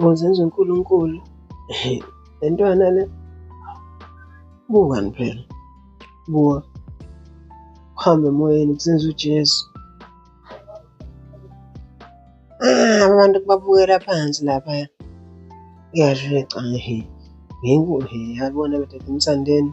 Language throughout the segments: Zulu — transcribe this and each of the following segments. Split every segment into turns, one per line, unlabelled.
Ngozenza uNkulunkulu. Le ntwana le. Bukani phela. Buka. Uhambe emoyeni kusenza uJesu. Ah, abantu kubabukela phansi lapha. Ngiyadlula ecanga he. Nginkulu he. Yabona bethatha umsandeni.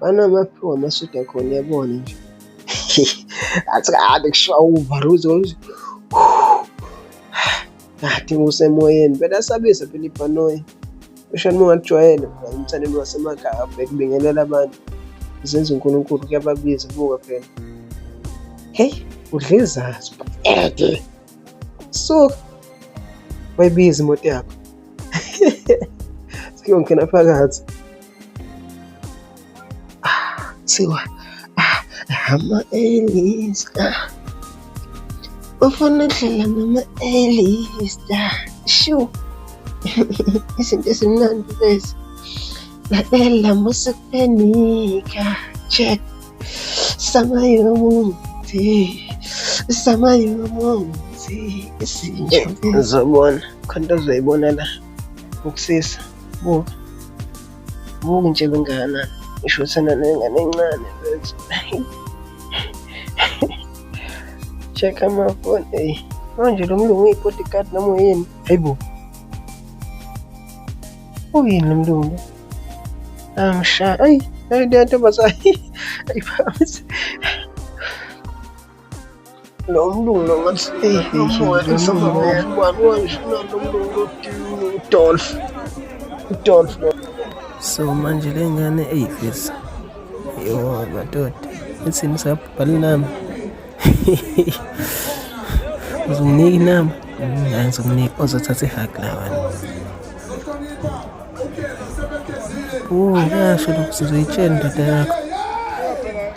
banamaphiwa amasudi akhona yabona nje athi kade kushiwa uvaruzo kade usemoyeni phela asabisa phela ibhanoyi eshani uma ungakujwayele umthandeni wasemakhaya abheke kubingelela abantu izenza unkulunkulu kuyababiza buka phela heyi udla izazi ede suka wayibiza imoto yakho siyongena phakathi Ah, siwa ah, hama elista ufuna udlela mama elista shu izinto ezimnandi lezi lalela musikupenika check samayomuthi samayomuthi izinto uzobona khona uzoyibona la Ukusisa. Buka. Buka nje bengana. Ngisho sana nengane encane mfethu. Check ama phone. Hey. Manje lo mlungu uyi-bodyguard noma uyini? Hayibo. Uyini lo mlungu? Amsha. Ayi, ayi le ntombazane. Ayiphakamise. lo mlungu lo ngathi udolf udolf so manje le ngane eyifisa yo madoda ithini sabhala inamba uzomnika inamba hayi ngizomnika ozothatha ihag lawana o kuyasho lokhu sizoyitshela indoda yakho